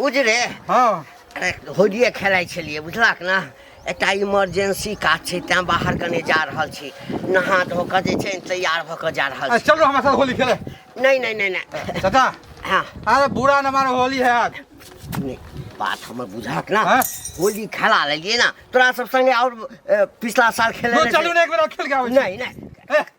उजरे हँ अरे होलिये खेलाइ छलियै बुझलक ने एकटा इमरजेंसी काज छै तेँ बाहर कने जा रहल छी नहा धो कऽ जे छै ने तैयार भऽ कऽ जा रहल आ, छी चलो हमरा साथ होली खेले नहि नहि नहि नहि चाचा हँ अरे बुरा न मानो होली है आज नहि, बात हमर बुझलक ने हँ? होली खेला लेलियै ने तोरा सब संगे आओर अ, पिछला साल खेले तो चलू ने एक बेर और खेल के आबै छी। नहीं नहीं ए,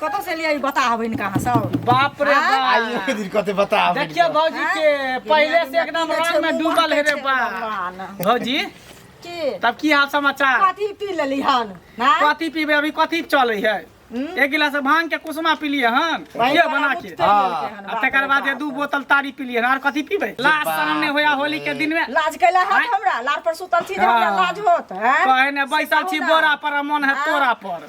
कतऽ से लियै बता हबै इनका अहाँ सब बाप रे बाप आइयो के दिन कते बता देखियो भौजी के पहले से एकदम रंग में डूबल है रे बा भौजी की तब की हाल समाचार कथी पी लेली हन ना कथी पीबे अभी कथी चले है एक गिलास भांग के कुसुमा पी लिए हन ये बना के हाँ। आ तकर बाद ये दू बोतल तारी पी लिए हन और कथी पीबे लास्ट सामने होया होली के दिन में लाज कैला हाथ हमरा लार पर सुतल छी जे हमरा लाज होत हैं कहे ने बैसल छी बोरा पर आ मन है तोरा पर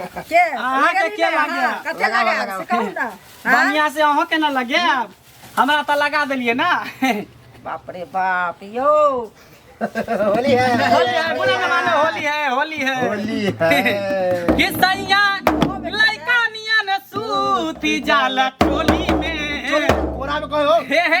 के अहाँ के के लगे? कते लगाओ, लगे लगाओ। से कहू ना हाँ? बढ़िया से अहों के ना लगे आब हमरा त लगा देलिए ना बाप रे बाप यो होली है होली है बुरा न मानो होली है होली है होली है कि सैया लइका नियन सूती जाला टोली में कोरा में कहो हे हे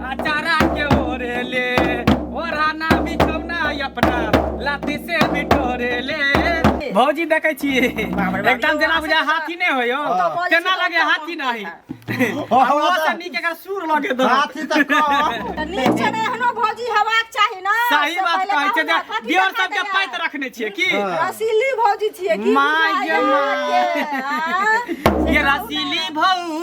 अचारा के ओढ़ेले ओढ़ाना बिछौना अपना लाती से बिटोरेले भौजी देखै छी एकदम जेना बुझा हाथी नहि होय यौ केना लगे हाथी नहि हमरा तऽ नीक एकर सुर लगे दो हाथी तऽ कम तऽ नीक छै ने एहनो भौजी हेबाक चाही ने सही से बात पहिले कहै छै जे बाबू हाथी दियर देखा सबके देला। पाइत रखने छियै की रसीली भौजी छियै की माय गे माय। माय गे, आँ? ये रसीली भौ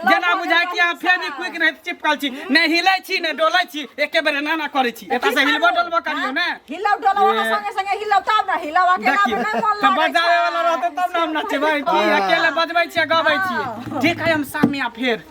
जेना बुझाय कि अहाँ फेर भी क्विक नहीं चिपकल छी नहीं हिलै छी नहीं डोलै छी एके बेर एना ना करै छी एतऽ से हिलबो डोलबो करियो ने हिलौ डोलौ अहाँ संगे संगे हिलौ तब ना हिलौ अकेला में नहीं मन लागै बजावे वाला रहतै तब ना हम नचबै की अकेले बजबै छी गबै छी ठीक है हम सामने फेर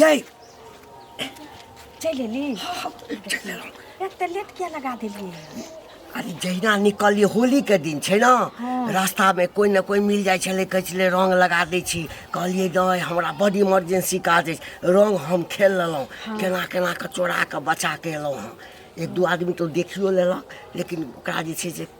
यही चलि एली एते लेट किया लगा देलियै अरे जहिना निकलिए होली के दिन छै ने रास्ता में कोई ना कोई मिल जाए छले कहै छले रंग लगा दै छी कहलिए नहीं हमरा बड इमरजेंसी काज अछि रंग हम खेल लेलहुँ केना केना के चोरा के बचा के एलहुँ हँ एक दू आदमी तो देखियो लेलक लेकिन ओकरा जे छै से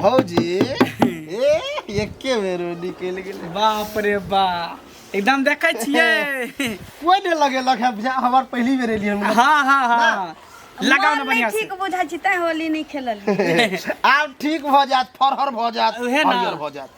भौजी ए एके बेर में निकल गेले बाप रे बा एकदम देखे छियै कोई नहीं लगे लग है बुझा हमार पहली बेर एलिए हम हाँ हाँ हाँ लगाओ ना मन बढ़िया नहीं से ठीक बुझा छी तैं होली नहीं खेलल आप ठीक भ जात फरहर भ जात उहे ना। हरियर भ जात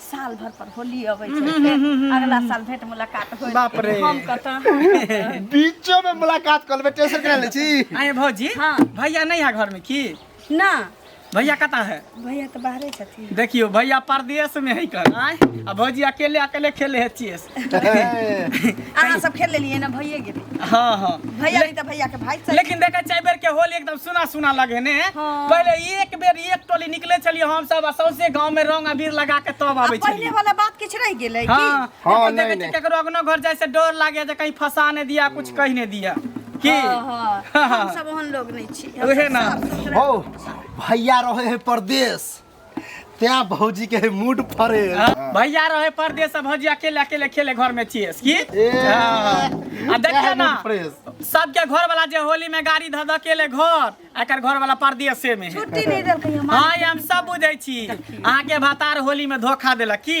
साल भर पर होली अबै छै फेर अगला साल भेंट मुलाकात होई बाप रे। हम कतऽ बीचो में मुलाकात कर लेबे टेंशन करा ले छी आए भौजी हाँ। भैया नहीं है घर में की ना भैया कता है भैया तऽ बाहरे छथिन देखियो भैया परदेश में है कल आए आ भौजी अकेले अकेले खेले है चेस अहाँ सब खेल लेलिए ना भैया गेल हाँ हाँ भैया नहीं तो भैया के भाई सही लेकिन देखा चाहे बेर के होल एकदम सुना सुना लगे ने हाँ। पहले एक बेर एक टोली निकले चलिए हम सब आ सौंसे गांव में रंग अबीर लगा के तब आवे अब पहले चलिए वाला बात किछ रह गेल है हाँ कि हाँ, हाँ नहीं, नहीं नहीं। केकरो अगनो घर जाए से डर लागे जे कहीं फंसा ने दिया कुछ कह ने दिया की हाँ, हाँ। हाँ, हाँ। हम सब ओहन लोग नहीं छी हम उहे सब ना। साफ सुथरा हो भैया रहे है परदेश त्या भौजी के मूड फरे भैया रहे परदेश से भौजी अकेले अकेले खेले घर में चेस की ए। हाँ। आ देखिए ना फ्रेश सबके घर वाला जे होली में गाड़ी धऽ धऽ केले घर एकर घर वाला परदेशे में है छुट्टी नहीं देलकै हमरा हाँ ई हम सब बुझै छी अहाँके भतार होली में धोखा देलक की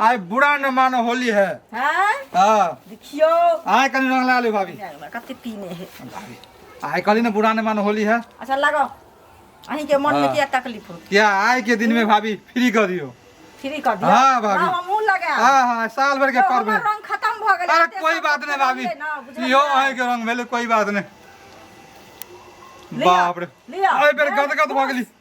आइ बुरा न मानो होली है हाँ हाँ देखियो आइ कनी रंग लगा ली भाभी कते पीने है भाभी आइ कनी न बुरा न मानो होली है अच्छा लगो अहीं के मन में हाँ। क्या तकलीफ हो क्या आइ के दिन में भाभी फ्री कर दियो फ्री कर दियो हां भाभी हमहु लगा हां हां साल भर के तो करबे रंग खत्म भ गेल अरे कोई बात नहीं भाभी यो आइ के रंग भेले कोई बात नहीं बाप रे आइ बेर गदगद भ गेली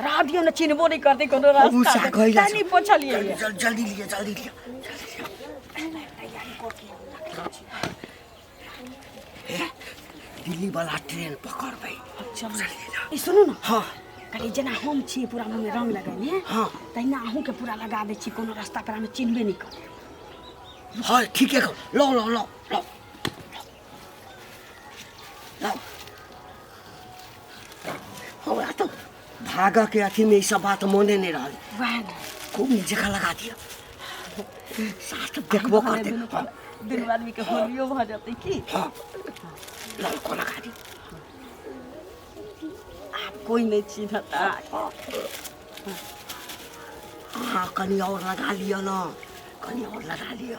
राह दियो ना चिन्हबो नहीं करते कोनो उ रास्ता सा कहि जा नहीं पूछलिए ये। जल- जल्दी लिया जल्दी लिया ए, दिल्ली वाला ट्रेन पकड़ भाई चल ई सुनू ना हाँ कहे जेना हम छी पूरा मुँह में रंग लगेने हाँ। तहिना अहूँ के पूरा लगा दै छी कोनो रास्ता पर हमें चिन्हबे नहीं कर हाँ ठीक है लो लो लो लो हमरा तो भागा के अथी में ई सब बात मोने नहीं रहल वैह ने खूब जगह लगा दिया सास तो देखबो कर दे हाँ, दुनू आदमी के होलियो भऽ जेतै की हाँ लाल को लगा दी आब कोई नहि चिन्हत हाँ कनी और लगा लियो ना कनी और लगा लियो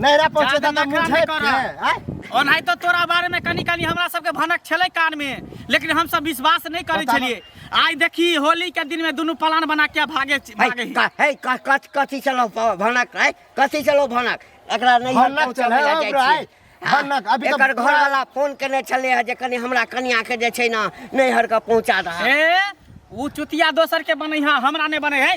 नैहरा पहुँचे जादे ता नखरा मुझे नहीं कर रहा। आय और नहीं तो तोरा बारे में कनी कनी हमरा सबके भनक छले कान में लेकिन हम सब विश्वास नहीं करे बताबो। छलिए आज देखी होली के दिन में दोनों प्लान बना के भागे है भागे ही। का- है का- कथ- कथी चलो प- भनक है कथी चलो भनक एकरा नहीं भनक पहुँचल चल, है, लए जाइ ओकरा छी। है। हाँ, भनक, अभी तऽ एकर पूरा- घरवाला फोन केने छलै है जे कनि हमरा कनिया के जे छै ने नैहर के पहुँचा दह ए ऊ चुतिया दोसर के बने है हमरा नहीं बने है